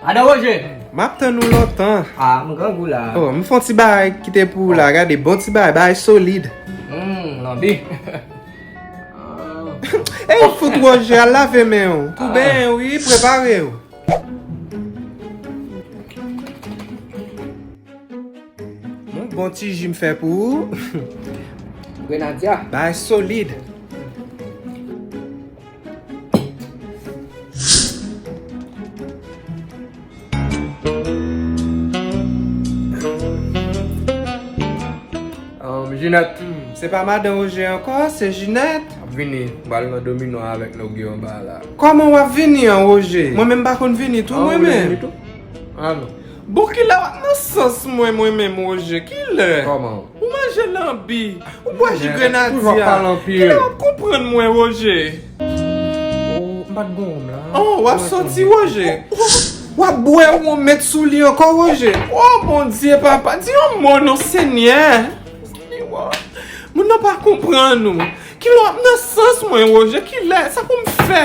Madan Roje! M ap tann ou lontan. A, m grangou la. O, m fon ti bagay ki te pou ou la. Gade, bon ti bagay, bagay solid. Hum, lanbi. E, ou fout Roje, al lave men ou. Pou benyen ou, wi, prepare ou. Bon, bon ti ji m fè pou ou. Grenadya. Bagay solid. Jinet Se pa madan Roger anko, se Jinet Ap vini, bal nan domino avek nou gyo anba la Koman wap vini an Roger? Mwen menm pa konn vini tou mwen menm An ou vle vini tou? An nou Bon kilè wap nan sans mwen mwen menm Roger? Kilè? Koman? Ou manje lanbi, ou bwè ji grenadya, kilè wap konprann mwen Roger? Ou pat bwè wonm la? Oh, wap soti Roger? Wap bwè wonm met sou li ankò Roger? Oh Bondye papa, di yon mo non Senyè! Moun nan pa konprann ou. Kilè wap nan sans mwen Roger, kilè, sa poum fè?